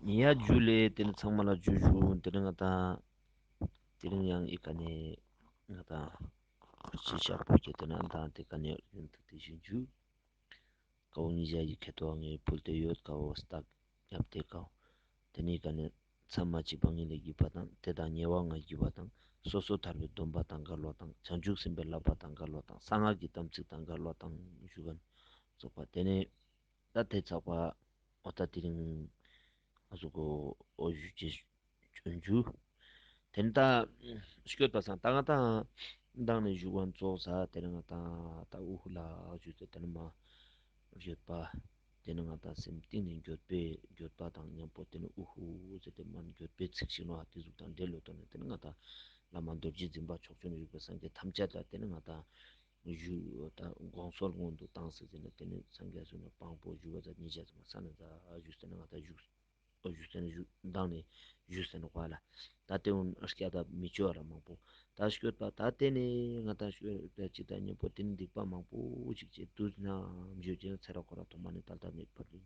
ཉེ་ཡ་རྒྱུད་ལས་དེ་ནི་ཚང་མ་ལ་རྒྱུད་བཞུགས་དེ་རིང་ང་དང། དེ་རིང་ཡང་ཨི་ཀ་ནས་ང་དང། ཁུ་ཚུར་ཤར་བོད་རྒྱལ་དོན་ཨ་དང་དེ་ཀ་ནས་ཨུ་ཡོན་ཐུགས་རྟེན་ཞིག་འཇུག། དཀའ་བོ་གཉིས་བཞག་ཡིག་ཁད་ཐོག་ངའི་ཕུལ་དེ་ཡོད་དཀའ་བོ་ལྟག་རྒྱབ་བལྟས་དཀའ་བོ། དེ་ནི་ཨི་ཀ་ནས་མཚམས་མ་གཅིག་པ་ངེད་ལས་བརྒྱུད་པ་དང་དེ་དང་ཉེ་བ་ང་བརྒྱུད་པ་དང་སོ་སོ་ཐར་པའི་སྡོམ་པ་དང་འགའ་ལོ་དང་བྱང་ཆུབ་སེམས་པའི་བསླབ་པ་དང་འགའ་ལོ་དང་གསང་སྔགས་ཀྱི་དམ་ཚིག་དང་འགའ་ལོ་དང་བཞུགས་སྒར་རྫོགས་པ་དེ་ནས། ད་དེ་ཚགས་པ་འོ་ད་དེ་རིང་ང་སུ་གོ་འོ་ཞུ་རྗེས་ཞུ་འཇུ་དེ་ནི་ད་ཤོད་པ་སང་ད་ང་ད་མདང་ནས་ཞུ་བ་འཚོགས་ས་དེ་རིང་ང་ད་ད་འུ་ཧུ་ལ་ཞུ་ད་དེ་ནི་མ་ཞོད་པ་དེ་ནི་ང་ད་སེམས་གཏིང་ནས་འགྱོད་པས་འགྱོད་པ་དང་མཉམ་པོ་དེ་ནི་འུ་ཧུ་ཟེར་ཏེ་མར་འགྱོད་པའི་ཚིག་ཞིག་ནོ་ཨ་ཏི་གཟུགས་དང་འདྲེ་ལོ་ཏོ་ནི་དེ་ནི་ང་ད་བླ་མ་རྡོ་རྗེ་འཛིན་པ་ཕྱོགས་བཅུ་ན་ཡོད་པའི་སངས་རྒྱས་ཐམས་ཅད་ད་དེ་ནི་ང་ད། བཞུགས་ཡོད། དགོངས་ཚོགས་སྔོན་དུ་བཏང་ཟེར་ཟེར་ནས་དེ་ནས་སངས་རྒྱས་གསུངས་ནས་དཔང་པོ་བཞུགས་པ་ཟེར་ཉེས་བྱས་ཟེར་མ་ས་ནས་ད་བཞུགས་ཟེར་ན་ང་ད་བཞུགས་ཨ་བཞུགས་ཟེར་ན་བཞུགས་མདང་ནས་བཞུགས་ཟེར་ན་བ་ལ་ད་ལྟེ་བོ་སྐྱ་ད་མི་བཅོལ་བ་ར་མང་པོ་ད་བཤོལ་པ་ད་ལྟེ་ནས་ང་ད་བཤོལ་བས་ཅི་ད་གཉེན་པོ་དེ་ནས་སྡིག་པ་མང་པོ་ཅིག་བྱས་དུས་ན་བརྗོད་བྱེད་ཚེ་ར་ཁོ་ར་ཐོག་མ་ནས་ད་ལྟ་མེད་པར་རིང་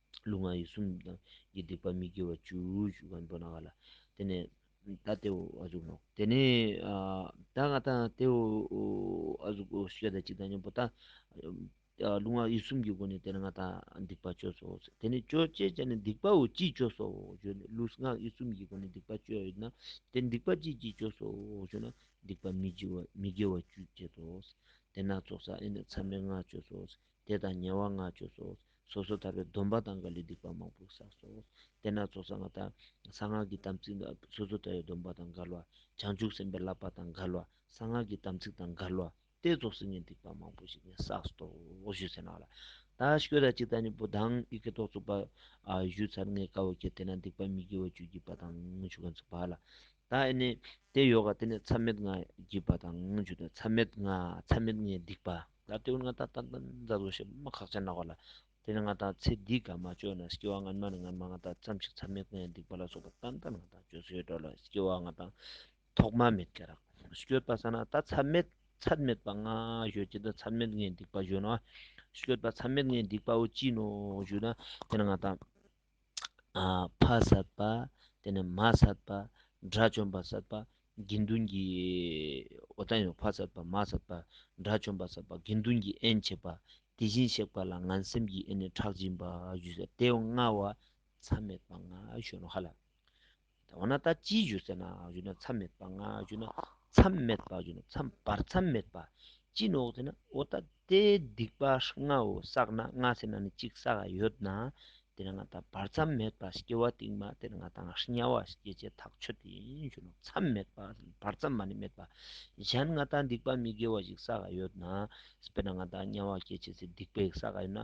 ལུས་ངག་ཡིད་གསུམ་དང་གི་སྡིག་པ་མི་དགེ་བ་བཅུ། དེ་ནས་ད་སྟེ་འོ་ཨ་གཟུགས་ནོ། དེ་ནས་ད་ང་ད་སྟེ་འོ་ཨ་གཟུགས་སོ་སོ་ཞེས་བྱ་བ་གཅིག་དང་གཉེན་པོ་དང། ལུས་ངག་ཡིད་གསུམ་གྱི་སྒོ་ནས་དེ་ནས་ང་ད་སྡིག་པ་བཅོས་སོ། དེ་ནས་བཅོས་ཅེས་བྱ་ནི་སྡིག་པ་འོ་ཅིས་བཅོས་སོ་ཞེ་ན། ལུས་ངག་ཡིད་གསུམ་གྱི་སྒོ་ནས་སྡིག་པ་བཅོས་ཡོད་ན་དེ་སྡིག་པ་ཅིས་ཅིས་བཅོས་སོ་ཞེ་ན། སྡིག་པ་མི་དགེ་བ་བཅུས་བསྐྱེད་དོ། དེ་ན་ཚོགས་བསགས་ཨེ་ནི་མཚམས་མེད་ལྔ་བཅོས་སོ། དེ་དང་ཉེ་བ་ལྔ་བཅུ་སོགས་སོ་སོ་ཐར་པའི་སྡོམ་པ་དང་འགའ་ལས་སྡིག་པ་མང་པོ་བསགས་སོ། དེ་ན་ཚོགས་བསགས་མ་དག་གསང་སྔགས་ཀྱི་དམ་ཚིག་དང་སོ་སོ་ཐར་བའི་སྡོམ་པ་དང་འགལ་བ། བྱང་ཆུབ་སེམས་དཔའི་བསླབ་པ་དང་འགལ་བ་གསང་སྔགས་ཀྱི་དམ་ཚིག་དང་འགལ་བ་སྟེ་རྫོགས་སེམས་ཀྱི་སྡིག་པ་མང་པོ་ཞིག་ནི་བསགས་སོ། བཞུད་ཟེར་ནག་ལ་ད་ཤི་ཀོས་ད་ཅིག་ད་གཉིས་པོ་དང་ཡི་གེ་ཏོག་བཙུགས་པ། བཞུད་ཚར་ལྔའི་དཀར་བོ་ཁྱེར་དེ་ན་སྡིག་པ་མི་དགེ་བ་བཅུ་བགྱིས་པ་དང་བཅུ་ག་འཛུགས་པ་ལ། ད་ཨེ་ནི། དེ་ཡོ་ག་དེ་ནི་མཚམས་མེད་ལྔ་བགྱིས་པ་དང་བཅུ་དང་མཚམས་མེད་ལྔ་མཚམས་མེད་ལྔའི་སྡིག་པ། ད་ལྟའི་བར་ང་ད་ལྟ་ད་ཛར་བཟོ་བྱེད་མ་ཁག་ཅར་ནག་བ་ལ། དེ་ནི་ང་ད་ཚེ་འདིའི་དགའ་མ་བཅོས་ན་སྐྱེ་བ་སྔ་མ་ནི་སྔ་མ་ང་ད་ཙམ་ཞིག་ཚར་མེད་ཀུན་ཡང་སྡིག་པ་ལ་སོགས་པ་ད་ད་ང་ད་བཅོས་སུ་ཡོད་འགྲོ་ལ་སྐྱེ་བ་ང་ད་ཐོག་མ་མེད་སྐྱེ་རགས་སུ་བསྐྱོད་པ་ས་ན་ད་ཚར་མེད་ཚར་མེད་པ་ང་བཞོས་ཀྱི་ད་ཚར་མེད་ངའི་སྡིག་པ་བཞོས་ན་བསྐྱོད་པ་ཚར་མེད་ངའི་སྡིག་པའོ་ཅི་ནོ་བཞོས་ན་དེ་ནི་ང་ད། ཕ་བསད་པ། དེ་ནས་མ་བསད་པ། དགྲ་བཅོམ་པ་བསད་པ། དགེ་འདུན་གྱི་འོ་ད་ཡང་ཕ་བསད་པ་མ་བསད་པ། དགྲ་བཅོམ་པ་བསད་པ་དགེ་འདུན་གྱི་ཨེན་བྱེད་པ། དེ་བཞིན་གཤེགས་པ་ལ་ང་སེམས་ཀྱིས་ཨེ་ནས་ཁྲག་སྦྱིན་པ་བཞུ་བསད་དེ་བསྔལ་བ་མཚམས་མེད་པ་ང་གཞོན་ནུ་ཧ་ལ། འོ་ན་ད་ཅི་ཞུ་ཟེར་ན་ཞུ་ན་མཚམས་མེད་པ་ང་ཞུ་ན་མཚམས་མེད་པ་ཞུ་ན་མཚམས་བར་མཚམས་མེད་པ་ཅི་ནོག་ཟེར་ན་འོ་ད་དེ་སྡིག་པ་ལྔ་འོ་བསགས་ན་ལྔ་ཟེར་ན་ནི་གཅིག་བསགས་ཡ་ཡོད་ན་དེ་ན་ང་ད་བར་མཚམས་མེད་པ་སྐྱེ་བ་དེང་མ་དེར་ང་ད་ང་དམྱལ་བ་སྐྱེ་བྱེད་ཐག་ཆོད་དེ་ཡིན་ཞུ་ན་མཚམས་མེད་པ་བར་མཚམས་མ་ནི་མེད་པ་གཞན་ང་ད་སྡིག་པ་མི་དགེ་བ་ཞིག་བསགས་ཡ་ཡོད་ན་དཔེར་ན་ང་ད་དམྱལ་བ་སྐྱེ་བྱེད་ཚེ་སྡིག་པ་ཞིག་བསགས་ཡ་ཡོད་ན་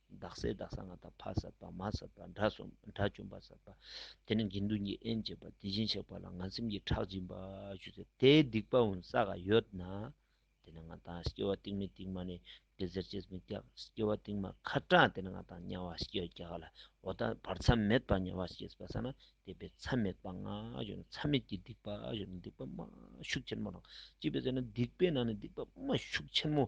བདག་སྲས་བདག་སང་ངམ་དང་ཕ་སྲས་པདྨ་སྲས་པ་དགྲ་སྲུང་པ་དགྲ་བཅོམ་པ་སྲས་པ་དེ་ནི་དགེ་འདུན་གྱི་དབྱེན་བཅས་པ་དེ་བཞིན་གཤེགས་པ་ལ་ང་སེམས་ཀྱིས་ཁྲག་སྦྱིན་པ་ཞུ་ཚེ་དེའི་སྡིག་པ་འོང་ས་ག་ཡོད་ན། དེ་ནི་ང་དང་སྐྱེ་བ་རྟིང་མི་རྟིང་མ་ནི་དེ་ཟེར་ཅེས་མི་སྐྱག་སྐྱེ་བ་རྟིང་མ་ཁ་དྲངས་དེ་ནི་ང་དང་དམྱལ་བ་སྐྱེ་བ་བརྒྱ་ག་ལ་འོ་ད་བར་མཚམས་མེད་པར་དམྱལ་བ་སྐྱེས་པ་ས་ན་དེ་པའི་མཚམས་མེད་པ་ང་ཞུ་ན་མཚམས་མེད་ཀྱི་སྡིག་པ་ཞུ་ན་སྡིག་པ་དམའ་ཤུགས་ཆེན་མོ་དང་གཅིག་པའི་ཚེ་ན་སྡིག་པའི་ནང་ནས་སྡིག་པ་དམའ་ཤུགས་ཆེན་མོ་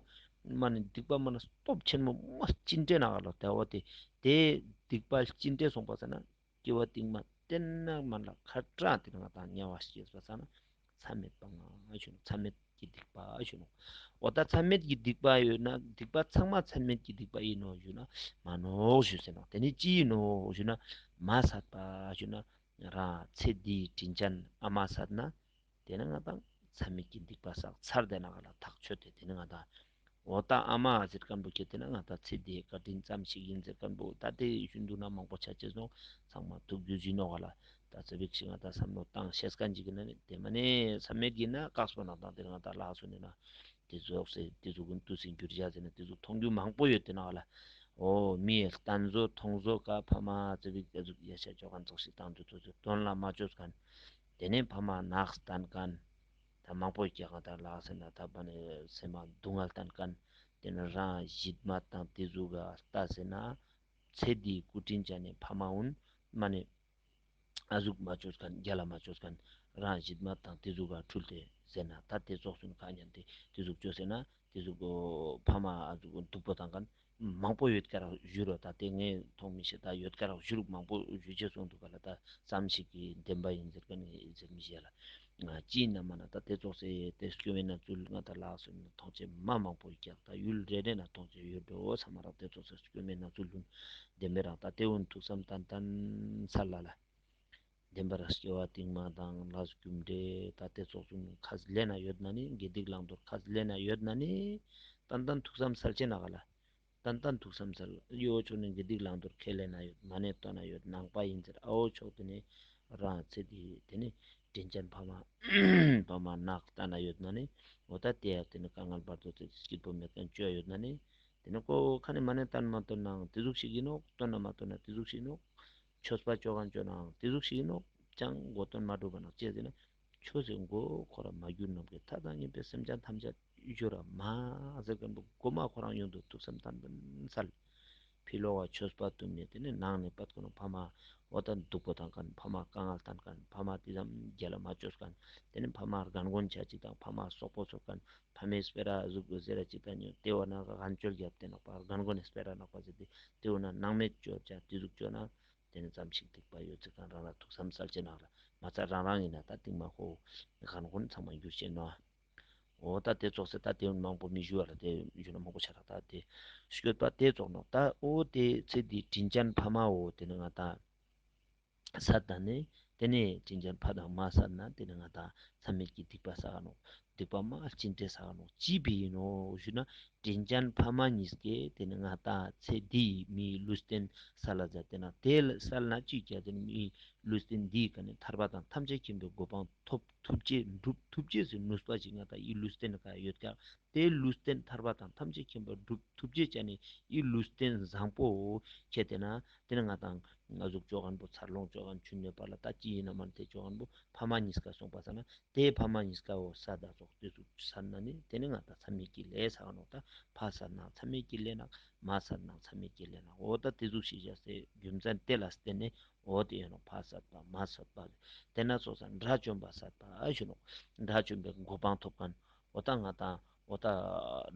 སྨྲ་ནི་སྡིག་པ་སྨྲ་ན་སྟོབས་ཆེན་མོ་སྨྲ་ཅི་འདྲེ་ན་ལ་དལ་བ་སྟེ་དེས་སྡིག་པ་ཅི་འདྲེ་གསུངས་པ་ཟེར་ན་སྐྱེ་བ་ཏིང་མ་སྟེར་ན་མར་ལ་ཁ་དྲག་སྟེ་ང་དང་ཉེ་བ་ཞེས་པ་ཟེར་ན་མཚམས་མེད་པ་ང་ཞུ་ནོ་མཚམས་མེད་ཀྱི་སྡིག་པ་ཞུ་ནོ་འོ་ད་མཚམས་མེད་ཀྱི་སྡིག་པ་ཡོད་ན་སྡིག་པ་ཚང་མ་མཚམས་མེད་ཀྱི་སྡིག་པ་ཡིན་ནོ་ཞུ་ན་མ་ནོ་ཞུ་ཟེར་ན་དེ་ནི་ཅི་ཡིན་ནོ་ཞུ་ན་མ་ཟད་པ་ཞུ་ན་ར་ཚེ་འདིའི་དྲིན་ཅན་ཨ་མ་ཟད་ན། དེ་ནི་ང་དང་ཚྭ་མེད་ཀྱི་སྡིག་པ་བསགས་ཚར་དེ་ན་ང་ལ་ཐག་ཆོད་དེ་དེ་ནི་ང་དང། འོ་ད་ཨ་མ་ཟེར་སྐམ་པོ་ཁྱེད་དེ་ན་ང་དང་ཚེ་འདིའི་བཀའ་དྲིན་ཙམ་ཞིག་ཡིན་ཟེར་སྐམ་པོ་ད་ལྟའི་ཡུལ་ཤུལ་འདུག་ན་མང་པོ་ཆ་ཆེ་སོང་ཚང་མ་ཐུགས་རྒྱུད་ཟིན་ནོ་ག་ལ་ད་ཚེ་བེག་ཞིག་ང་དང་བསམ་བློ་བཏང་བཤད་སྐ་འཇིག་གི་ན་མེད་དེ་མ་ནས་ཚྭ་མེད་ཀྱི་ན་བཀག་སོ་ན་དང་དེ་ནི་ང་དང་ལགས་སོ་ནས་ན་དེ་ཟོག་ཟེར་དེ་ཟོག་གིན་ཏུ་ཟིན་གྱུར་བཞག་ཟེར་ན་དེ་ཟོག་མཐོང་རྒྱུ་མང་པོ་ཡོད་དེ་ན་ག་ལ་འོ་མི་ཨེ་ལྟན་ཟོ་མཐོང་ཟོ་ག་ཕ་མ་ཚེ་བེག་ཨེ་ཟུག་ཡ་ཤ་ཅོ་ག་འཛག་ཤིག་བཏང་འདོད་ཚོ་ཟེར་དོན་ལ་མ་ཅོ་སྐ། དེ་ནས་ཕ་མ་ནགས་བསྟན་གན། ད་མང་པོ་སྐྱེ་གང་དར་ལགས་ཟེར་ན་ད་པ་ནི་སེམས་མ་སྡུག་བསྔལ་བསྟན་གན། དེ་ནི་རང་གཞི་མ་དང་དེ་གཟུགས་ག་ལྟ་ཟེར་ན། ཚེ་འདིའི་སྐུ་དྲིན་བྱ་ནི་ཕ་མ་འུན། མ་ནི་ཨ་གཟུགས་མ་ཆོས་གན་རྒྱ་ལ་མ་ཆོས་གན། རང་གཞི་མ་དང་དེ་གཟུགས་ག་འཁྲུལ་ཏེ་ཟེར་ན་ད་དེ་རྫོགས་སུན་ག་སྙམ་སྟེ་དེ་གཟུགས་ཆོས་ཟེར་ན། དེ་གཟུགས་ཕ་མ་ཨ་གཟུགས་སྡུག་པོ་བསྟན་གན། མང་པོ་ཡོད་ཀྱར་བཞུགས་རོགས་ད་ལྟའི་ངས་མཐོང་མི་ཤེས་ད་ཡོད་ཀྱར་བཞུགས་མང་པོ་བཞུགས་བྱས་སོང་འདུག་ག་ལ་ད་ཙམ་ཞིག་གིས་བདེན་པ་ཡིན་ཟེར་ག་ནས་ཟེར་མི་ཤེས་ལ། སྤྱི་ཡི་ན་མ་ན་ད་ལྟའི་ཙོག་སའི་ཏེ་སྐྱོ་བའི་ན་ཚུལ་ང་ད་ལགས་སོ་ན་ཐོག་ཆེ་མ་མང་པོ་ཡོད་ཀྱར་ད་ཡུལ་རེ་རེ་ན་ཐོག་ཆེ་ཡོད་འགྲོ་ས་མ་རག་ཏའི་ཙོག་སའི་སྐྱོ་མའི་ན་ཚུལ་ལྷུན་བདེན་མེད་རང་ད་ལྟའི་འུ་ཐུག་བསམ་ད་ད་མཚར་ལ་ལ། བདེན་པར་སྐྱེ་བ་རྟིང་མ་དང་ལྷ་སྐུ་འབྲས་ད་ལྟའི་ཚོགས་གསུམ་ཁ་ཟླས་ན་ཡོད་ན་ནི་དགེ་སྡིག་བླང་དོར་ཁ་ཟླས་ན་ཡོད་ན་ནི་ཏན་ཏན་ཐུགས་སམ་སལ་ཆེ་ན་ག་ལ་ཏན་ཏན་ཐུགས་སམ་སལ་གཡོའོ་ཆོག་ནི་དགེ་སྡིག་བླང་དོར་ཁས་ལེན་ན་ཡོད་མ་ནི་སྟོན་ན་ཡོད་ནང་པ་ཡིན་ཟེར་ཨའོ་ཆོག་དེ་ནི་རང་ཚེ་འདི་དེ་ནི་དྲིན་ཅན་ཕ་མ་ཕ་མ་ནག་ལྟ་ན་ཡོད་ན་ནི་འོ་ད་དེ་ཡང་དེ་ནི་དཀའ་ངལ་བར་དོ་ཚིགས་སྐྱིད་པོ་མེད་མཁན་སྤྱོད་ཡ་ཡོད་ན་ནི་དེ་ནི་ཀོ་ཁ་ནི་མ་ནི་ཏན་མ་སྟོན་ནའང་དེ་གཟུགས་ཤིག་ཡིན་ནོ་སྟོན་ན་མ་སྟོན་ན་དེ་གཟུགས་ཤིག་ཡིན་ནོ་ཆོས་སྤ་ཅོ་གང་བཅོ་ནའང་དེ་གཟུགས་ཤིག་ཡིན་ནོ། ཅང་མགོ་སྟོན་མ་བགྲོད་པ་ན་སྤྱད་ཟིན་ན། ཆོས་ཟེར་མགོ་ཁོ་ར་མ་གྱུར་ནམ་མཁའི་མཐའ་དང་གཉིས་པའི་སེམས་ཅན་ཐམས་ཅད་གཡོ་ར་མ་ཟེར་མཁན་པོ་མགོ་མ་ཁོ་རང་ཡོང་དུ་ཐུགས་སེམས་དམ་པོ་མཚལ། ཕི་ལོ་བ་ཆོས་སྤ་དུ་མས་དེ་ནས་ནང་ནས་སྤ་ཀོ་ན་ཕ་མ་འོ་ད་འདུག་པོ་དང་ཀན་ཕ་མ་ཀ་ངལ་དང་ཀན་ཕ་མ་དེ་ཙམ་རྒྱལ་ལ་མ་བཅོས་ཀན་དེ་ནས་ཕ་མ་རྒན་དགོན་བྱ་ཅིག་དང་ཕ་མ་སོག་པོ་ཚོ་ཀན་ཕ་མས་སྤེ་ར་གཟུགས་པོ་ཟེར་ར་ཅིག་ལྟ་ཉོན་ལྟེ་བ་ན་ག་གན་ཅོལ་བརྒྱབ་སྟེ་ནག་པར་གན་གོ་ནས་སྤེ་ར་ནག་པ་ཟེར་ཏེ་ལྟེ་བུ་ན་ནག་མེད་ཅོལ་བྱ་དེ་གཟུགས་ཅོལ་ན་དེ་ནས་ཙམ་ཞིག་སྡིག་པ་ཡོད་ཚེ་གན་རང་ར་ཐུག་བསམ་གསར་བྱེད་ནག་ར་མ་རྩ་རང་རང་ཡིན་ན་ད་ཏིང་མ་ཧོ་གན་གོ་ནས་ཚང་མ་འགྱུར་བྱེད་ནོ། འོ་ད་དེ་རྫོགས་ཚེ་ད་དེ་མང་པོ་མི་བཞུ་བ་ལ་དེ་བཞུ་ན་མང་པོ་བྱ་ར་ད་དེ་བཞུད་པ་དེ་རྫོགས་ནོ་ད་འོ་དེ་ཚེ་དེའི་དྲིན་ཅན་ཕ་མ་འོ་དེ་ནི་ང་ད། ས་དང་ནི། དེ་ནས་བྱིན་ཆེན་ཕ་དང་མ་ས་ན་དེ་ནི་ང་དང་ཚད་མེད་ཀྱི་སྡིག་པ་ས་ག་ནོ། སྡིག་པ་མ་བྱིན་དེ་ས་ག་ནོ་ཅི་བས་ཡིན་ནོ་ཞུ་ན། བྱིན་ཆེན་ཕ་མ་གཉིས་ཀྱི་དེ་ནི་ང་དང་ཚེ་འདིའི་མིའི་ཀླུ་སྟེན་ས་ལ་ཛ་དེ་ན་དེ་ལ་ས་ལ་ན་ཅིག་ཅར་དེ་ནི་མིའི་ཀླུ་སྟེན་འདིའི་ག་ནི་ཐར་པ་དང་ཐམས་ཅད་མཁྱེན་པའི་གོ་འཕང་ཐོབ་ཐུབ་རྗེས་འགྲུབ་ཐུབ་རྗེས་སུ་ནུས་པ་ཅིག་ང་དང་ཡི་ཀླུ་སྟེན་ག་ཡོད་ཀྱང་དེའི་ལུས་རྟེན་ཐར་པ་དང་ཐམས་ཅད་མཁྱེན་པ་བསྒྲུབ་ཐུབ་ཅེས་བྱ་ནི་ཡི་ལུས་རྟེན་བཟང་པོའོ། ཁྱེད་དེ་ན་དེ་ནི་ང་དང། ང་གཟུགས་ཅོ་གར་འབུ་ཚར་ལོངས་ཅོ་གར་མཆུ་གནོད་པ་ལ་ད་ཅི་ཡིན་ནམ་མར་དེ་ཅོ་གར་འབུ་ཕ་མ་གཉིས་ཀ་སོང་པ་ས་ན་དེའི་ཕ་མ་གཉིས་ཀའོ་ས་བདག་ཚོགས་བསྟོད་ཚུགས་ས་ན་ནི་དེ་ནི་ང་ད་ཚ་མེད་ཀྱི་ལས་ས་ག་ནོག་ད་ཕ་ས་ན་ཚ་མེད་ཀྱི་ལས་ནག་མ་ས་ན་ཚ་མེད་ཀྱི་ལས་ནག་འོ་ད་དེ་གཟུགས་ཤེས་བྱ་སའི་རྒྱུ་མཚན་དེ་ལ་བརྟེན་ནས་འོ་དེ་ཡོད་ནོག་ཕ་ས་ད་མ་ས་ད་དེ་ན་ཚོགས་ས་དགྲ་བཅོམ་པ་ས་ད་ཞུ་ནོག་དགྲ་བཅོམ་པའི་མགོ་འཕང་ཐོབ་ག་ཨོ་ད་ང་དང་ཨོ་ད་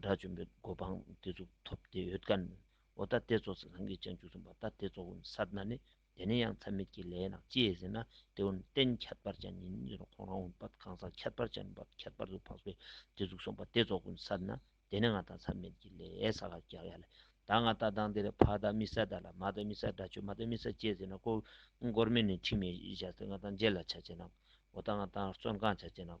དགྲ་བཅོམ་པའི་སྒོ་འཕང་དེ་ཚོ་ཐོབ་བདེ་ཡོད་དཀའ་ནི། ཨོ་ད་ལྟེ་ཚོགས་སུ་ལྷན་སྐྱེས་སྤྱན་བཅུ་གསུམ་པ་ད་ལྟེ་ཚོགས་བུམ་སར་གནའ་ནི། དེ་ནས་ཡང་མཚམས་མེད་ཀྱི་ལས་ནག་སྐྱེས་ཟིན་ན་ལྟེ་བོ་ནས་བརྟེན་ཁྱད་པར་ཅན་ཉིད་ནི་ཁོང་རང་བུམ་པ་གང་ཟག་ཁྱད་པར་ཅན་བར་ཁྱད་པར་དུ་འཕགས་པའི་ལྟེ་གཟུགས་གསུམ་པ་ལྟེ་ཚོགས་བུམ་སར་གནའ། དེ་ནས་ང་དང་མཚམས་མེད་ཀྱི་ལས་ས་ལ་རྒྱག་ཡ་ལས། ད་ང་ད་དང་དེ་ལས་ཕ་ད་མི་ས་ད་ལ་མ་ད་མི་སར་དགྲ་བཅོམ་མ་ད་མི་སར་སྐྱེས་ཟིན་ན་ཀོ། མགོར་མེ་ནི་འཁྲིགས་མེད་བཞག་སྟེ་ང་དང་མཇལ་ལ་བྱ་བྱེད་ནག། ཨོ་ད་ང་དང་བརྩོན་གང་བྱ་བྱེད་ནག།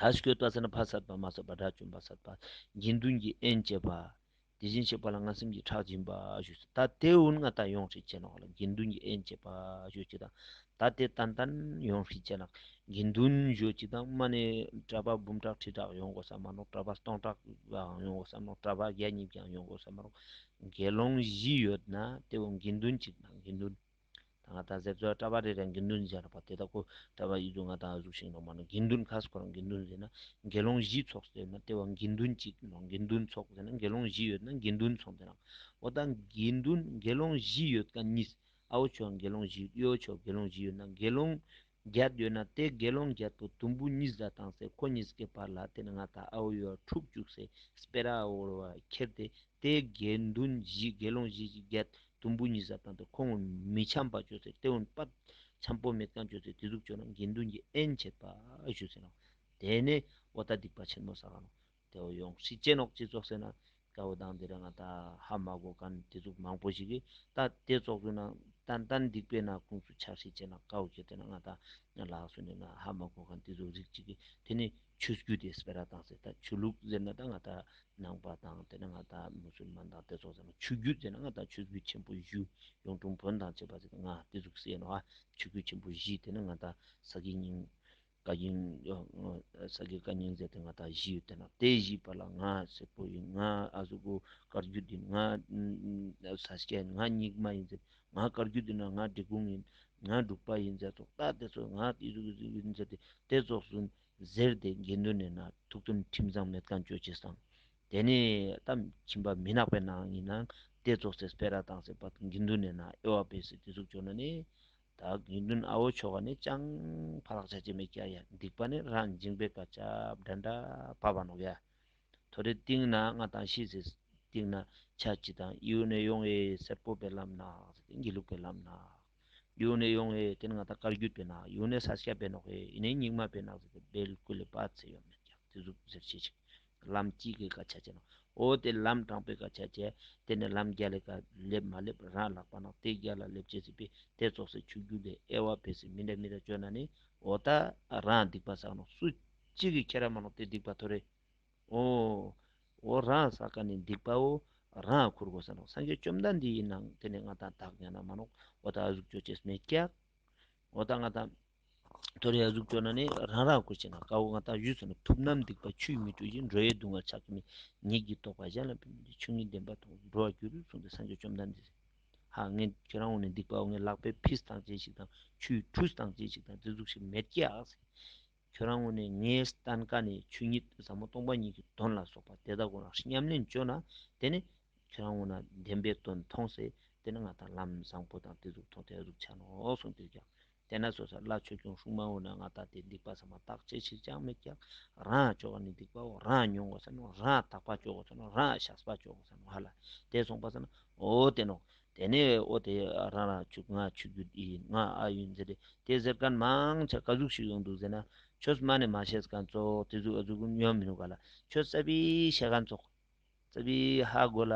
དར་ཞིག་གོས་བཏགས་ཟེར་ན་ཕ་སར་པ་མ་སར་པ་དགྲ་བཅོམ་པ་སར་པ། དགེ་འདུན་གྱི་དབྱེན་བཅས་པ། དེ་བཞིན་གཤེགས་པ་ལ་མངའ་སེམས་ཀྱི་ཁྲག་སྦྱིན་པ་ཞུས་སོ། ད་དེ་འུར་མངའ་ད་ཡོངས་ཧྲིག་ཅེ་ནོག་ལ་དགེ་འདུན་གྱི་དབྱེན་བཅས་པ་ཞུ་ཅིག་དང། ད་དེ་ཏན་ཏན་ཡོངས་ཧྲིག་ཅེ་ནག་དགེ་འདུན་ཞུ་ཅིག་དང་མ་ནི་གྲྭ་པ་འབུམ་ཕྲག་ཁྲི་ཕྲག་ཡོང་དགོས་ས་མ་ནོག་གྲྭ་པ་སྟོང་ཕྲག་བའང་ཡོང་དགོས་ས་མ་ནོག་གྲྭ་པ་བརྒྱ་གཉིས་བརྒྱའང་ཡོང་དགོས་ས་མ་ནོག་དགེ་སློང་བཞི་ཡོད་ན་དེ་བོ་དགེ་འདུན་གཅིག་དང་དགེ་འདུན། ད་ང་ད་གཟེབ་ཚོ་ཀྲ་བ་རེ་རེ་དགེ་འདུན་ཟེར་བ་དེ་ད་ཁོ་ཀྲ་བ་ཡིད་དུ་ང་ད་གཟུགས་ཤིང་ནོ་མ་ནོ་དགེ་འདུན་ཁ་སི་ཁོ་རང་དགེ་འདུན་ཟེར་ན་དགེ་སློང་བཞི་ཚོགས་ཟེར་ན་དེ་བ་དགེ་འདུན་གཅིག་ནོ་དགེ་འདུན་ཚོགས་ཟེར་ན་དགེ་སློང་བཞི་ཡོད་ན་དགེ་འདུན་ཚོགས་ཟེར་ནག་འོ་ད་དགེ་འདུན་དགེ་སློང་བཞི་ཡོད་ཀ་གཉིས་ཨའོ་ཆོས་དགེ་སློང་བཞི་ཡོད་ཨའོ་ཆོས་དགེ་སློང་བཞི་ཡོད་ན་དགེ་སློང་རྒྱལ་འདོད་ན་དེ་དགེ་སློང་རྒྱལ་པོ་དུམ་བུ་གཉིས་བཟའ་དང་སེ་གོ་གཉིས་ཀའི་བར་ལ་དེ་ནི་ང་དང་ཨའོ་ཡོ་བ་ཕྲུག་བཅུག་སེ་སྤེ་ར་ཨའོ་ཡོ་བ་ཁྱེར་ཏེ་དེ་དགེ་འདུན་བཞི་དགེ་སློང་བཞི་ཞིག་རྒྱལ་དུམ་བུ་གཉིས་བཟའ་དང་དེ་ཁོང་མི་འཆམ་པ་བྱོས་སེ་དེ་འོན་པ་འཆམ་པོ་མེད་ཀྱང་བྱོས་སེ་དེ་གཟུགས་བྱོས་ན་དགེ་འདུན་གྱིས་ཨེན་བྱེད་པ་བྱོས་སེ་ནོ། དེ་ནས་ཨོ་ད་སྡིག་པ་ཆེན་མོ་ཟ་བ་ནོ། དེ་འོ་ཡོང་སྲིད་ཅེས་ནོག་ཅེས་ཙོག་ཟེར་ན་དགའ་བོ་དང་དེ་རིང་ང་ད་ཧ་མ་གོ་ག་ནི་དེ་ཚུགས་མང་པོ་ཞིག་གིས་ད་དེ་ཙོག་ཚུགས་ན་ཏན་ཏན་སྡིག་པའི་ན་ཁུངས་སུ་ཆགས་སྲིད་ཅེས་ནག་དགའ་བོ་ཁྱེད་དེ་ན་ང་ད་ལགས་སུ་ནི་ང་ཧ་མ་གོ་ག་ནི་དེ་ཚུགས་རིགས་གཅིག་གིས་དེ་ནི་ཆོས་བརྒྱུད་དེ་སྤེ་ར་དང་ཟེར་ད་ཆོས་ལུགས་ཟེར་ན་ད་ང་ད་ནང་པ་དང་དེ་ན་ང་ད་མུ་སུལ་མཱན་དང་དེ་ཚོགས་ཟེར་ན་ཆོས་བརྒྱུད་ཟེར་ན་ང་ད་ཆོས་བརྒྱུད་ཆེན་པོ་བཞུ་ཡོང་ཀྲུང་བོན་དང་བཅས་པ་ཟེར་ད་ང་དེ་ཚུགས་སེ་ནོ་ཨ་ཆོས་བརྒྱུད་ཆེན་པོ་བཞི་དེ་ན་ང་ད་ཟ་གི་སྙིང། བཀའ་རྒྱུན། ས་དགེ་བཀའ་རྙིང་མཛད་དེ་ང་དག་བཞི་ཡོད་དེ་ན་དེ་བཞི་པ་ལ་ང་སེར་པོ་ཡིན་ང་ཨ་གཟུགས་པོ་དཀར་རྒྱུ་འདི་ང་ས་སྐྱ་ཡིན་ང་སྙིགས་མ་ཡིན་ཟེར་ང་དཀར་རྒྱུ་འདི་ན་ང་འབྲི་གུང་ཡིན་ང་འབྲུག་པ་ཡིན་ཟེར་ཐོག་རྟགས་དེ་ཚོ་ང་ཨི་གཟུགས་ཨི་གཟུགས་ཡིན་ཟེར་ཏེ་དེ་རྫོགས་སོན་ཟེར་ཏེ་དགེ་འདུན་ནས་ན་ཐུག་ཚུལ་ཁྲིམས་གཙང་མས་བཀའ་འགྱོད་བྱས་སམ། དེ་ནས་ད་ཁྱིམ་པ་མི་ནག་པའི་ནང་ཡིན་ན་དེ་རྫོགས་ཚེ་སྤེལ་ར་དང་ཟེར་བ་དགེ་འདུན་ནས་ན་ཨེ་བ་པས་སི་ཏི་གཟུགས་བྱོན་ན་ནི། དག་དགེ་འདུན་ཨ་བོ་མཆོག་ག་ནི་ཅང་ཕ་ལགས་བྱ་བྱེད་མེད་ཀྱ་ཡ་སྡིག་པ་ནི་ར་འཇིང་པའི་ཀ་ཅབ་འདྲ་འདྲ་པ་བ་ནོག་ཡ་ཐོ་རེ་ཏིང་ན་ང་དང་ཤི་ཟེ་ཏིང་ན་ཆ་ཅི་དང་དབྱིའུ་ནས་ཡོང་ཨེ་སེར་པོ་པའི་ལམ་ནག་ཟེ་ཏིང་དགེ་ལུགས་པའི་ལམ་ནག་དབྱིའུ་ནས་ཡོང་ཨེ་ཏིན་ང་དང་དཀར་རྒྱུད་པའི་ནག་དབྱིའུ་ནས་ས་སྐྱ་པའི་ནོག་ཨེ་ཨི་ནས་སྙིགས་མ་པའི་ནག་ཟེ་ཏེ་སྦེལ་ཀུ་ལེ་པ་ཚེ་ཡོད་མེད་ཀྱ་ཏི་ཟུག་ཟེར་བྱེད་ཅིག་ལམ་གཅིག་གི་དགག་བྱ་བྱས་ན་འོ་དེ་ལམ་དྲང་པོའི་དགག་བྱ་བྱས། དེ་ནས་ལམ་བརྒྱ་ལས་ག་ལེབ་མ་ལེབ་རང་ལགས་པ་ན་དེ་བརྒྱ་ལ་ལེབ་བྱེད་སྲིད་པས་དེ་རྫོགས་སའི་ཆུ་རྒྱུན་ལས་ཨེ་ཝྃ་བས་སྲིད་མི་འདྲ་མི་འདྲ་བཅོས་ན་ནི་འོ་ད་རང་སྡིག་པ་བསགས་ན་སུ་གཅིག་གིས་ཁྱེད་རང་མ་ལོག་དེ་སྡིག་པ་དོར་རེ་འོ། འོ་རང་བསགས་ཀ་ནི་སྡིག་པའོ། རང་འཁུར་དགོས་ས་ནོ་སངས་རྒྱས་བཅོམ་ལྡན་འདས་ཡིན་ནའང་དེ་ནི་ང་དང་བདག་གཉའ་ན་མ་ལོག་འོ་ད་གཟུགས་བརྗོད་བྱེད་སྨྲས་སྐྱག་འོ་ད་ང་དང། དོ་རེ་ཡ་གཟུགས་སྤྲོ་ན་ནི་རང་རང་བཀོད་བྱས་ན་དཀའ་འོ་ང་དག་ཡུལ་སོ་ན་ཐུབ་རྣམ་སྡིག་པ་ཆུ་ཡིས་མི་བཀྲུ་ཞིང་འགྲོ་ཡའི་སྡུག་བསྔལ་ཆགས་ཀྱི་མེད་ཉིད་ཀྱིས་རྟོགས་པ་གཞན་ལ་འབུལ་མི་འདོད་ཆུ་ངན་ལྡན་པ་དང་འགྲོ་བར་འགྱུར་གསུངས་ཏེ་སངས་རྒྱས་བཅོམ་ལྡན་འདས། ཧཱ་ངས་ཁྱེད་རང་འོ་ནས་སྡིག་པའོ་ངས་ལག་པས་ཕིས་སྟངས་ཅན་ཞིག་དང་ཆུའི་ཁྲུས་སྟངས་ཅན་ཞིག་དང་རྫི་གཟུགས་ཤིག་མེད་ཀྱི་ཨག་ཟེར། ཁྱོད་རང་འོ་ནས་ངའི་སྟན་ཀ་ནས་ཆུ་ཉིད་ཟབ་མོ་སྟོང་པ་ཉིད་ཀྱི་གདོན་ལ་སོགས་པ་དེ་དག་གོ་རང་ཤི་སྙམ་ལེན་བཅོལ་ན་དེ་ནས་ཁྱོད་རང་འོ་ན་བདེན་པའི་དོན་མཐོང་ཟེར་དེ་ནི་ང་དང་ལམ་བཟང་པོ་དང་དེ་གཟུགས་མཐོང་དེ་གཟུགས་འཆར་ནོ་གསུངས་ཏེ་ཀྱང། དེས་ན་སོ་སོ་ལ་ཆོས་སྐྱོང་ཧྲུག་མང་བོ་ནི་ང་དག་དེ་སྡིག་པ་ཟ་མ་ཐག་ཅི་ཞིག་ཀྱང་མི་སྐྱག་རང་ཨ་ཅོག་ནི་སྡིག་པའོ་རང་ཨ་ཉུང་བ་ཟེར་ནོ་རང་ཨ་དག་པ་ཅོག་ཟེར་ནོ་རང་ཨ་ཤ་སྦ་ཅོག་ཟེར་ནོ་ཧ་ལ་དེས་སོང་པ་ཟེར་ན་ཨོ་དེ་ནོ། དེ་ནས་ཨོ་དེ་རང་རང་ཆུ་ང་ཆུ་རྒྱུད་ཨི་ཡིན་ང་ཨ་ཡིན་ཟེར་ཏེ་དེས་ཟེར་གན་མང་ཆ་ག་གཟུགས་ཤིག་ཡོང་འདུག་ཟེར་ན་ཆོས་སྨྲ་ནས་མ་བཤད་གན་ཙོག་དེ་གཟུགས་ཨ་གཟུགས་ཉོ་མི་ནུས་ག་ལ་ཆོས་གསར་པས་བཤད་གན་ཙོག། རྩ་བའི་ཧ་གོ་ལ་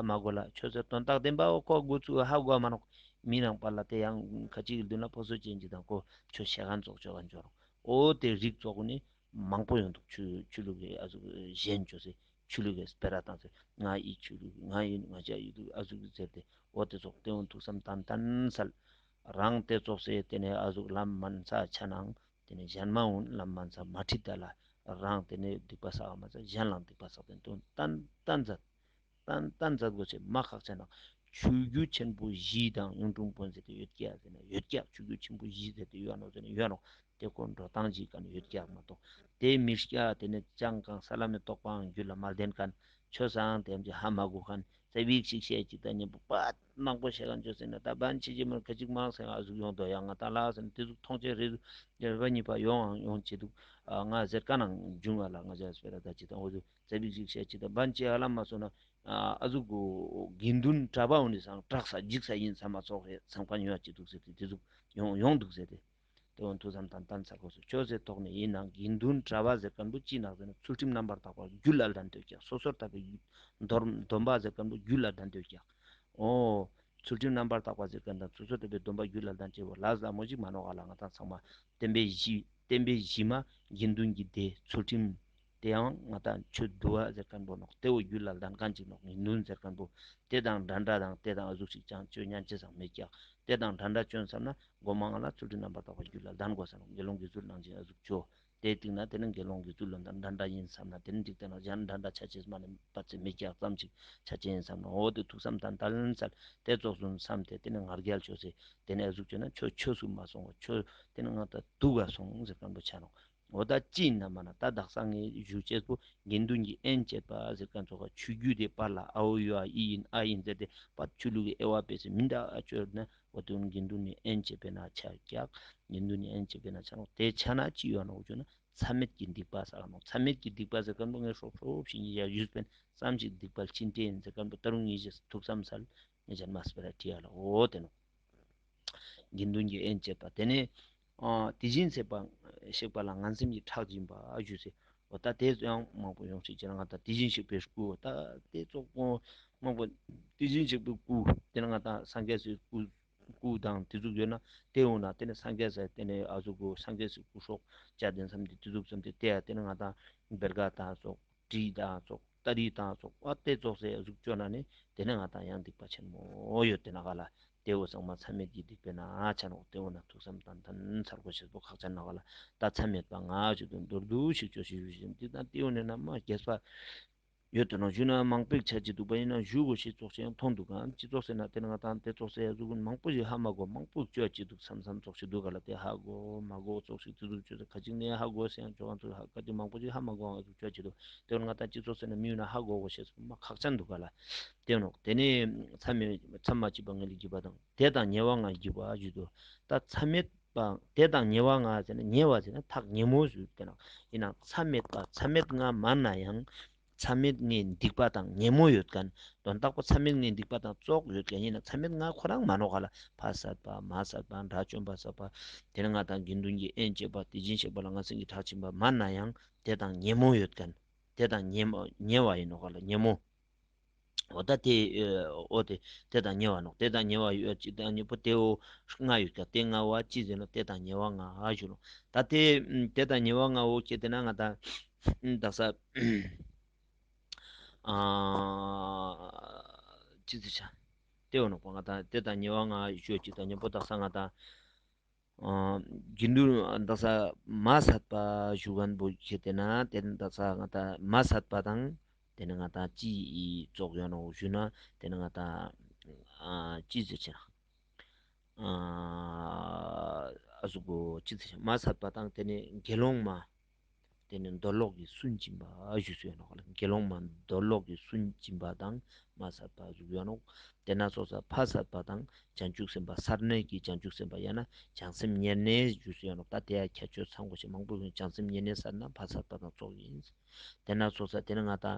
མ་གོ་ལ་ཁྱོད་ཚོས་དོན་རྟགས་བདེན་པ་འོག་ཁོག་དགོས་ཚུལ་ཧ་གོ་མ་གནོག་མི་རང་པར་ལ་དེ་ཡང་ཁ་ཅིག་གི་མདུན་ལ་ཕོ་སོ་ཅན་གྱི་དང་གོ་ཆོད་ཞལ་ཁང་རྫོགས་ཆོད་ཁང་འབྱོར་ཨོ་དེ་རིགས་ཚོགས་ནི་མང་པོ་ཡོང་འདུག་ཆུ་ལུག་གི་ཨ་གཟུགས་གཞན་བཅོ་ཟེ་ཆུ་ལུག་གི་སྤེ་ར་དང་ཟེར་ང་ཡི་ཆུ་ལུག་ང་ཡི་ང་ཅག་ཡི་ལུག་ཨ་གཟུགས་གི་ཟེར་ཏེ་ཨོ་དེ་ཚོགས་དེ་འོང་ཐུགས་བསམ་དམ་དམ་གསལ། རང་དེ་ཚོགས་སའི་དེ་ནས་ཨ་གཟུགས་ལམ་མན་ས་ཆ་ནང་དེ་ནས་གཞན་མ་འོན་ལམ་མ་འཛག་མ་ཁྲིད་བདག་ལ་རངས་དེ་ནས་སྡིག་པ་བསགས་བ་མ་འཛག་གཞན་ལའང་སྡིག་པ་བསགས་དོན་དུ་ཏནྟ་འཛག། ཏནྟ་འཛག་རྡོ་རྗེ་མ་ཁག་ཅན་དང་ཆུ་རྒྱུས་ཆེན་པོ་བཞི་དང་གཡུང་དྲུང་དཔོན་ཟེར་ཏེ་ཡོད་སྐྱ་ཟེར་ན་ཡོད་སྐྱ་ཆུ་རྒྱུས་ཆེན་པོ་བཞི་ཟེར་ཏེ་ཡོད་ནོ་ཟེར་ན་ཡོད་ནོ་དེ་ཀོ་འགྲོ་སྟངས་ཅི་ཀ་ནི་ཡོད་སྐྱ་མ་གཏོགས་དེ་མི་སྐྱ་དེ་ནས་ཅང་གང་ས་ལམ་ནས་རྟོགས་པའང་རྒྱུད་ལ་མ་ལྡན་ཀ་ནི་ཆོས་སའང་དེ་འམ་ཅི་ཧ་མ་གོ་ཀ་ནི་ཙེ་བིག་ཅིག་བཤད་ཅིག་ད་གཉེན་པོ་པད། ནག་པོ་ཞེས་ལ་འཇོག་ཟིན་ན་ད་བན་ཆེ་ཆེ་མར་ག་གཅིག་མང་སེང་ཨ་གཟུགས་ཡོང་དོ་ཡ་ང་ད་ལགས་ཟེར་ན་དེ་གཟུགས་ཐོངས་ཆེན་རེད་ཟུག་རེ་བ་གཉིས་པ་ཡོང་ཨང་ཡོང་བྱེད་འདུག་ང་ཟེར་ཀ་ནང་འབྱུང་ཨ་ལགས་ང་ཇག་སྤེ་ར་ད་ཅི་དང་འོ་ཟེར་ཛ་བིག་བིག་བྱས་ཅི་དང་བན་ཆེ་ཧ་ལམ་མ་བཟོ་ན་ཨ་གཟུགས་དགེ་འདུན་གྲྭ་པ་འོ་ནི་སང་དྲག་ས་འཇིག་ས་ཡིན་ས་མ་ཚོགས་རེད་སང་བ་ཉོ་ཡ་ཅི་འདུག་ཟེར་ཏེ་དེ་གཟུགས་ཡོང་ཡོང་འདུག་ཟེར་ཏེ། སྟེས་དབང་ཐུགས་བསམ་དང་གཏམ་ཚ་གོ་སོགས་ཅོག་ཙེ་ཐོག་ནས་ཡིན་ནང་དགེ་འདུན་གྲྭ་བ་ཟེར་ཀར་འབུ་སྐྱིད་ནག་ཟེར་ན་ཚུལ་ཁྲིམས་རྣམ་པར་དག་པ་རྒྱུད་བླ་དགྲ་འདོད་རྒྱག་སོ་སོར་དག་པའི་ཡུལ། སྡོམ་པ་ཟེར་ཀར་འབུ་རྒྱུད་བླ་དགྲ་འདོད་རྒྱག། ཨོ། ཚུལ་ཁྲིམས་རྣམ་པར་དག་པ་ཟེར་ཀར་དང་ཚུལ་སོར་དག་པའི་སྡོམ་པ་རྒྱུད་བླ་དགྲ་འདྲེ་བོ་ལ་ཟ་མོ་གཅིག་མ་ནོར་ཨ་ལ་ང་དང་ཚང་མ་བསྟན་པའི་གཞི་བསྟན་པའི་གཞི་མ་དགེ་འདུན་གྱི་སྡེ་ཚུལ་ཁྲིམས་དེའང་ང་དང་ཁྱོད་བསྡུ་བ་ཟེར་ཀན་པོ་ནོག་དེའོ་རྒྱུད་ལ་ལྡན་གང་ཅིག་ནོག་ནི་ནུན་ཟེར་ཀན་པོ་དེ་དང་འདྲ་འདྲ་དང་དེ་དང་གཟུགས་ཤིག་ཅང་སྤྱོད་ཉན་ཅི་བཟང་མེད་ཀྱང་དེ་དང་འདྲ་འདྲ་སྤྱོད་བསམ་ན་སྒོ་མང་ལ་ཚུལ་ཁྲིམས་རྣམ་པར་དག་པ་རྒྱུད་ལ་ལྡན་དགོས་བསམ་ན་དགེ་སློང་གི་ཚུལ་སྣང་ཅན་གཟུགས་སྤྱོད་དེ་ཏིག་ན་དེ་ནི་དགེ་སློང་གི་ཚུལ་ལོ་ཟླ་འདྲ་འདྲ་ཡིན་བསམ་ན་དེ་ནི་འཇིག་རྟེན་ན་གཞན་འདྲ་འདྲ་ཆ་བྱད་མ་ནི་བ་ཚེ་མི་རྒྱག་ཙམ་ཅིག་ཆ་ཅན་ཡིན་བསམ་ན་འོ་དེ་ཐུགས་བསམ་དང་ལྟ་ལན་བསལ་དེ་རྫོགས་སོང་བསམ་སྟེ་དེ་ནི་ང་རྒྱལ་བྱོས་ཟེར་དེ་ནས་གཟུགས་སྤྱོད་ན་ཁྱོད་ཁྱོད་གཟུགས་མ་སོང་བ་ཁྱོད་དེ་ནི་ང་དང་བསྡུ་བ་སོང་ཟེར་ཀན་པོ་ཆ་ནོག་འོ་ད་ཅི་ན་མ་ན་ད་དག་སང་ངེ་བཞུགས་ཆད་པོ་དགེ་འདུན་གྱི་ཨེན་བཅས་པ་ཟེར་མཁན་ཚོ་ཁ་ཆུ་རྒྱུས་དེ་པར་ལ་ཨ་ཨོ་ཡོ་ཨ་ཨི་ཡིན་ཨ་ཡིན་ཟེར་ཏེ་པར་ཆུ་བླུགས་ཀྱི་ཨེ་བ་པེ་སི་མི་འདའ་ཨ་ཅོ་ན་བ་དུ་དགེ་འདུན་ནས་ཨེན་བཅས་པས་ན་ཆ་རྒྱག་དགེ་འདུན་ནས་ཨེན་བཅས་པས་ན་ཆ་ནོག་དེ་ཆ་ན་ཅི་ཡོད་ན་འོ་ཅོ་ན་ཚ་མེད་ཀྱི་སྡིག་པ་ཟ་ག་ནོག་ཚ་མེད་ཀྱི་སྡིག་པ་ཟེར་མཁན་པོ་ངའི་ཧྲོབ་ཧྲོབ་ཞིག་ཉིད་ཡ་བཞུད་པན་བསམ་ཞིག་སྡིག་པ་ལྕི་འདྲེ་ཡིན་ཟེར་མཁན་པོ་ད་རུང་ཉིད་བཞི་ཐུགས་བསམ་ཚར་ཉེ་ཆར་མཱ་སི་པེ་ར་ཀྲི་ཡ་ལ་འོ་དེ་ནོ། དགེ་འདུན་གྱིས་དབྱེན་བྱེད་པ་དེ་ནི། དེ་བཞིན་གཤེགས་པ་གཤེགས་པ་ལ་ང་སེམས་ཀྱིས་ཁྲག་སྦྱིན་པ་ཞུས་ཚེ། འོ་ད་དེ་ཡང་དམག་དཔོན་ཡོངས་ཤིག་ཅེ་ན་ང་དང་དེ་བཞིན་གཤེགས་པའི་སྐུའོ་ད་དེ་ཙོག་པོ། དམག་དཔོན། དེ་བཞིན་གཤེགས་པའི་སྐུ། དེ་ན་ང་དང་སངས་རྒྱས་སུའི་སྐུ། སྐུ་དང་དེ་གཟུགས་ཡོད་ན་དེ་འོངས་ན་དེ་ནི་སངས་རྒྱས་སེ་དེ་ནི་ཨ་གཟུགས་སྐུ་སངས་རྒྱས་སུའི་སྐུ་ཧྲོག་ཅག་དེ་མཚམས་དེ་དེ་གཟུགས་མཚམས་དེ་དེ་ཡ་དེ་ན་ང་དང་བེར་ག་དང་ཙོག་དྲི་དང་ཙོག། ཏཱ་རི་དང་སོགས་དཔའ་གཏད་རྫོགས་སའི་གཟུགས་བཅོ་ན་ནི་དེ་ནི་ང་དང་ཡང་སྡིག་པ་ཆེན་མོ་ཡོད་དེ་ན་ག་ལ་སྟེའུ་གཙང་མ་མཚམས་མེད་ཀྱི་སྡིག་པའི་ན་ཆ་ནོག་སྟེའུ་ན་ཐུགས་བསམ་དང་དམ་མཚར་སྒོ་ཕྱེད་པོ་ཁག་ཅར་ན་ག་ལ་ད་མཚམས་མེད་པ་ངག་གཅིག་ཏུ་མདོར་བསྡུ་ཞིག་བཅོ་ཞེས་ཞུ་བཞིན་སྡིག་དང་སྟེའུ་ནི་ན་མ་རྒྱས་པ་ཡོད་དེ་ན་བཞུགས་ན་མང་པོས་ཆ་གཅིག་འདུག་པ་ཡིན་ན་བཞུགས་གོ་ཞེས་རྫོགས་ཆེན་མཐོང་འདུག་གམ་ཅི་རྫོགས་ཟེར་ན་དེ་ནི་ང་དང་གཏད་རྫོགས་སའི་གཟུགས་མང་པོ་ཞིག་ཧ་མ་གོ་མང་པོས་བཅོ་གཅིག་འདུག་མཚམས་མཚམས་རྫོགས་ཤིག་འདུག་ག་ལ་སྟེ་ཧ་གོ་མ་གོ་རྫོགས་ཤིག་ཙི་ཙུར་བཅོ་ས་ཁ་ཅིག་ནས་ཧ་གོ་ས་ཡང་བཅོ་གང་ཙུག་ཧ་ག་དེ་མང་པོ་ཞིག་ཧ་མ་གོ་ང་གཟུགས་བཅོ་གཅིག་འདུག་དོན་ལྔ་དང་གཅིག་ཚོགས་བསགས་ན་མི་ཡོད་ན་ཧ་གོ་གོ་ཞེས་སོགས་མ་ཁག་ཅན་འདུག་པ་ལ་བརྟེན་ནོ། དེ་ནི་མཚམས་མེད་མཚམས་མ་གཅིག་པ་ངེས་ལ་བརྒྱུད་པ་དང་དེ་དང་ཉེ་བ་འང་བརྒྱུད་པ་བརྒྱུད་དོ། ད་མཚམས་མེད་པ་དེ་དང་ཉེ་བ་འང་ཟེར་ན་ཉེ་བ་ཟེར་ན་ཐག་ཉེ་མོ་ཟུར་བསྟན་ནོ། ཡིན་ནའང་མཚམས་མེད་པ་མཚམས་མེད་ལྔ་མར་ན་ཡང་མཚམས་མེད་ལྔའི་འདུས་པ་དང་ཉེ་མོ་ཡོད་དཀའ་ན་དོན་རྟག་པ་མཚམས་མེད་ལྔའི་འདུས་པ་དང་རྩོགས་ཡོད་དཀའ་ཡིན་ན་མཚམས་མེད་ལྔ་ཁོ་རང་མ་ནོར་ག་ལ་ཕ་བསགས་པ་མ་བསགས་པ་དགྲ་བཅོམ་པ་བསགས་པ་དེ་ལྔ་དང་དགེ་འདུན་གྱི་དབྱེན་བཅས་པ་དེ་སྦྱིན་བྱེད་པ་ལ་ང་སེང་གི་གྲགས་ཆེན་པ་མར་ན་ཡང་དེ་དང་ཉེ་མོ་ཡོད་དཀན། དེ་དང་ཉེ། ཉེ་བ་ཡིན་ནོ་ག་ལ་ཉེ་མོ། འོ་ད་དེ། འོ་དེ། དེ་དང་ཉེ་བ་ནོ། དེ་དང་ཉེ་བ་ཡོད་ཅིག་དང་ཉེ་པོ་དེ་འོ། ལྔ་ཡོད་ཀྱ་དེ་ལྔ་བ་ཅི་ཟིན་ནོ་དེ་དང་ཉེ་བ་ལྔ་ཧ་ཞུ་ལོ། ད་དེ། དེ་དང་ཉེ་བ་ལྔ་འོ་ཁྱེད་དེ་ན་ང་ད། བདག་ས། ཨ། ཅི་ཟེར་བྱ། དེ་འོ་ནོ་པོ་ང་ད་དེ་དང་ཉེ་བ་ལྔ་ཡོད་ཅིག་དང་ཉེ་པོ་བདག་ས་ང་ད། རྒྱུ་འདུལ་རྡ་ས་མ་ཟད་པ་ཞུ་བན་པོ་ཆེ་དེ་ན་དེ་ནི་རྡ་ས་ང་ད་མ་ཟད་པ་དང་དེ་ནི་ང་ད་ཅི་རྫོགས་ཡོད་ནོ་ཞུ་ན་དེ་ནི་ང་ད་ཅི་ཟེར་ཆེ་ན་ཨ་ཟུག་གོ་ཅི་ཟེར་ཆེ་ན་མ་ཟད་པ་དང་དེ་ནི་དགེ་སློང་མ། དེ་ནི་འདོད་ལོག་གི་སུན་འབྱིན་པ་བཞུགས་སོ་ཡང་ནོ། དགེ་སློང་མ་འདོད་ལོག་གི་སུན་འབྱིན་པ་དང་མ་ཟད་པ་བཞུགས་སོ་ཡང་ནོ། དེ་ན་སྲོག་ཟད་ཕ་ཟད་པ་དང་བྱང་ཆུབ་སེམས་དཔའ་སར་གནས་ཀྱི་བྱང་ཆུབ་སེམས་དཔའ་ཡང་ན་བྱང་སེམས་ཉེར་གནས་བཞུགས་སོ་ཡང་ནོ། ད་དེ་ཡང་ཁྱད་ཆོས་ཚང་གོ་ཞེས་མང་པོས་གསུངས་བྱང་སེམས་ཉེར་གནས་སར་ན་ཕ་ཟད་པ་དང་ཚོགས་ཡིན། དེ་ན་སྲོག་ཟད་དེ་ནི་ང་དང།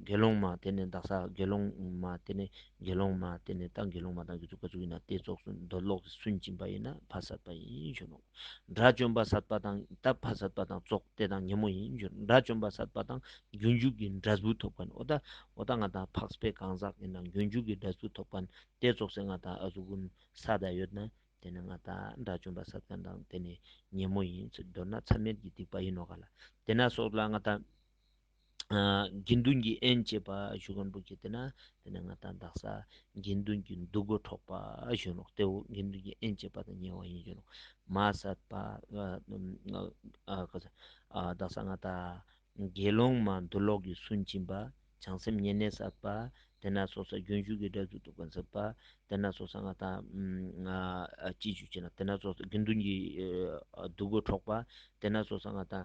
དགེ་སློང་མ་དེ་ནི་བདག་ཟ་དགེ་སློང་མ་དེ་ནི་དགེ་སློང་མ་དེ་ནི་བདག་དགེ་སློང་མ་དང་གི་ཚུགས་པ་ཚུགས་ཡིན་ན་དེའི་ཚོགས་སུ་འདོད་ལོག་གི་སུན་འབྱིན་པ་ཡིན་ན་ཕ་ཟད་པ་ཡིན་ཞུ་ནོ། དགྲ་བཅོམ་པ་ཟད་པ་དང་དག་པ་ཟད་པ་དང་རྫོགས་དེ་དང་ཉིན་མོ་ཡིན་རྒྱུར་དགྲ་བཅོམ་པ་ཟད་པ་དང་རྒྱུན་འཇུག་གི་འདྲ་གཟུགས་ཐོབ་པ་ནི་ཨོ་ད་ཨོ་ད་ང་དང་འཕགས་པའི་གང་ཟག་ཡིན་ན་རྒྱུན་འཇུག་གི་འདྲ་གཟུགས་ཐོབ་པ་ནི་དེ་རྫོགས་སའི་ང་དང་ཨ་གཟུགས་ཀུན་ས་དག་ཡོད་ན་དེ་ནི་ང་དང་དགྲ་བཅོམ་པ་ཟད་པ་དང་དེ་ནི་ཉིན་མོ་ཡིན་ཚུལ་མདོར་ན་མཚམས་མེད་ཀྱི་སྡིག་པ་ཡིན་ནོ་ག་ལ་དེ་ན་སོགས་ལ་ང་དང། དགེ་འདུན་གྱི་ཨེན་བཅས་པ་གཞུ་དགོན་པོ་བརྒྱུད་དེ་ན་དེ་ནས་ང་དང་བདག་ས་དགེ་འདུན་གྱི་འདུ་སྒོ་འཕྲོག་པ་བཞོན་ནོ་སྟེ་འོ་དགེ་འདུན་གྱི་ཨེན་བཅས་པ་དང་ཉེ་བ་ཡིན་བཞོན་ནོ་མ་ཟད་པ་བདག་ས་ང་དང་དགེ་སློང་མ་འདུ་ལོག་གི་སུན་འབྱིན་པ་བྱང་སེམས་ཉེ་གནས་ཟད་པ་དེ་ན་སོ་ས་རྒྱུན་ཞུགས་ཀྱི་སྒྲ་ཚུལ་དུ་བོན་ཟད་པ་དེ་ན་སོ་ས་ང་དང་ཅི་བྱུས་བྱས་ན་དེ་ན་སོ་ས་དགེ་འདུན་གྱི་འདུ་སྒོ་འཕྲོག་པ་དེ་ན་སོ་ས་ང་དང།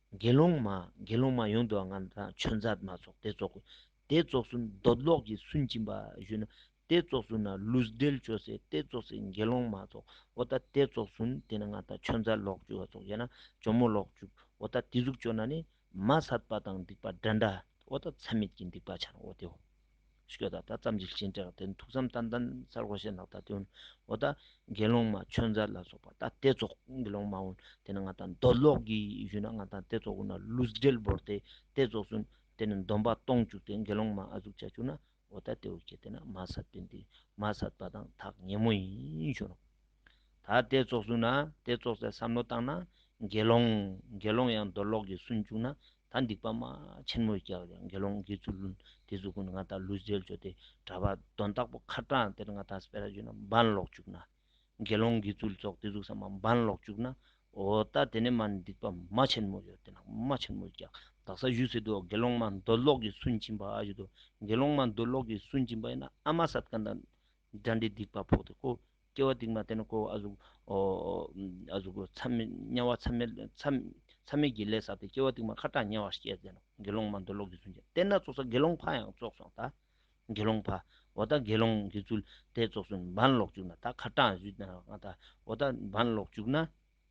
དགེ་སློང་མ་དགེ་སློང་མ་ཡོངས་འདུ་བ་ལྔ་དང་ཆོས་མཛད་མ་སོགས་དེ་ཙོག་གོ། དེ་ཙོག་སུ་འདོད་ཀློག་གིས་སུན་འབྱིན་པ་བཞུད་ན་དེ་ཙོག་སུ་ན་ལུས་བདེལ་བྱོས་སེ་དེ་ཙོག་སེ་དགེ་སློང་མ་ཙོག་འོ་ད་དེ་ཙོག་སུན་དེ་ན་ང་དང་ཆོས་མཛད་ཀློག་བྱོས་བ་ཙོག་ཡ་ན་ཇོ་མོ་ཀློག་བྱོས་འོ་ད་དེ་གཟུགས་བྱོས་ན་ནི་མ་སད་པ་དང་སྡིག་པ་འདྲ་འདྲ་འོ་ད་ཚད་མེད་ཀྱི་སྡིག་པ་འཆར་འོ་དེའོ། ཤོད་ད་ལྟ་ཙམ་གྱི་གཞན་དྲེག་བདེ་མཐུག་ཙམ་ཏན་ཏན་ས་རོ་ཤེས་ནག་ད་དོན་འོ་ད་དགེ་སློང་མ་ཆོས་མཛད་ལ་སོགས་པ་ད་ལྟའི་རྫོགས་དགེ་སློང་མ་འོན་དེ་ནི་ང་དང་མདོ་ལོག་གི་གཞུད་ན་ང་དང་ལྟའི་རྫོགས་འོ་ན་ལུས་སྦྲེལ་བོར་དེ་ལྟའི་རྫོགས་སུན་དེ་ནི་འདོམ་པ་སྟོང་བཅུག་དེ་དགེ་སློང་མ་ཨ་གཟུགས་བྱ་བཅུག་ན་འོ་ད་ལྟའི་འོ་ཁྱེད་དེ་ན་མ་ཟད་པས་འདི་མ་ཟད་པ་དང་ཐག་ཉེ་མོ་ཡིན་ཞུ་ན། ད་ལྟའི་རྫོགས་སུན་ན་དེ་རྫོགས་སའི་བསམ་བློ་བཏང་ན་དགེ་སློང་དགེ་སློང་ཡང་མདོ་ལོག་གི་སུན་བཅུག་ན་ད་སྡིག་པ་མ་ཆེན་མོ་བསྐྱལ་བས་དགེ་སློང་དགེ་ཚུལ་བླུན་དེ་ཚོ་ཀུན་ང་དང་ལུས་རྩལ་འཇོ་དེ་གྲྭ་པ་གདོན་བདག་པོ་ཁ་གྲངས་དེར་ང་དང་སྤེ་ར་བྱོན་ན་འབངས་ལོག་བཅུག་ན། དགེ་སློང་དགེ་ཚུལ་ཚོགས་དེ་གཟུགས་ས་མ་འབངས་ལོག་བཅུག་ན། འོ་ད་དེ་ནས་མ་སྡིག་པ་མ་ཆེན་མོ་ཡོད་དེ་ན་མ་ཆེན་མོ་བསྐྱལ་བདག་ས་གཞུས་ཟེར་དུ་དགེ་སློང་མ་མདོ་ལོག་གིས་སུན་འབྱིན་པ་ཞུས་དུ་དགེ་སློང་མ་མདོ་ལོག་གིས་སུན་འབྱིན་པ་ཡིན་ན་ཨ་མ་སཱ་ཏཀ་འདྲ་དགྲ་འདི་སྡིག་པ་ཕོག་སྟེ་བསྐོ། སྐྱེ་བ་སྡིག་མ་སྟེ་ན་བསྐོ་བ་གཟུགས། དམྱལ་བ་མཚམས་མེད་ཀྱི་ལས་བསགས་ཏེ་སྐྱེ་བ་སྡིག་མ་ཁ་གྲགས་དམྱལ་བ་ཞེས་བྱ་སྟེ་ན་དགེ་སློང་མ་འདོད་ལོག་གི་ཚུལ་ཅན་དེ་ན་བཙོག་ས་དགེ་སློང་ཕ་ཡང་བཙོག་སོང་ད། དགེ་སློང་ཕ། འོ་ད་དགེ་སློང་གི་ཚུལ་དེས་བཙོག་སུན་འབར་ལོག་བཅུག་ན་ད་ཁ་གྲགས་ཞུས་ན་ང་ད། འོ་ད་འབར་ལོག་བཅུག་ན།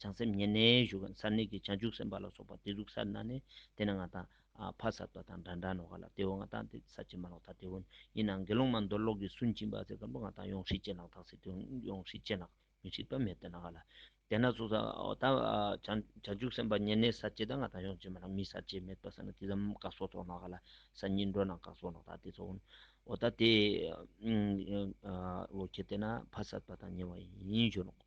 བྱང་སེམས་ཉེར་ལེན་བཞུགས་ཀྱང་ཚར་གནས་ཀྱི་བྱང་ཆུབ་སེམས་དཔའ་ལ་སོགས་པ་དེ་གཟུགས་སར་སྣང་ནས་དེ་ན་ང་དང། ཕ་ས་ཏོ་དང་འདྲ་འདྲ་ནོ་ག་ལ་དེའོ་ང་དང་དེ་ས་བྱེ་མ་ལོག་ད་དེའོ། ཡིན་ནའང་དགེ་སློང་མ་མདོ་ཀློག་གིས་སུན་འབྱིན་པ་ཚེ་སྐམ་པོ་ང་དང་ཡོངས་ཧྲིག་ཅེས་ལག་ཐག་སེ་དེའོ་ཡོངས་ཧྲིག་ཅེས་ལག་མི་ཧྲིག་པ་མེད་དེ་ན་ག་ལ། དེ་ན་གཟུགས་སར་འོ་ད་བྱང་ཆུབ་སེམས་དཔའ་ཉེར་ལེན་སར་བྱེ་ད་ང་དང་ཡོངས་བྱེ་མ་ལག་མི་སར་བྱེ་མེད་པ་ས་ན་དེ་ཙམ་བཀག་སོགས་དོགས་ན་ག་ལ་ས་གཉིས་འགྲོ་རྣམས་བཀག་སོགས་ལོག་ད་དེ་ཚོ་འོ་ད་དེའོ། ཁྱེད་དེ་ན་ཕ་ས་ཏོ་དང་ཉེ་བ་ཡིན་ཞུ་ལོག།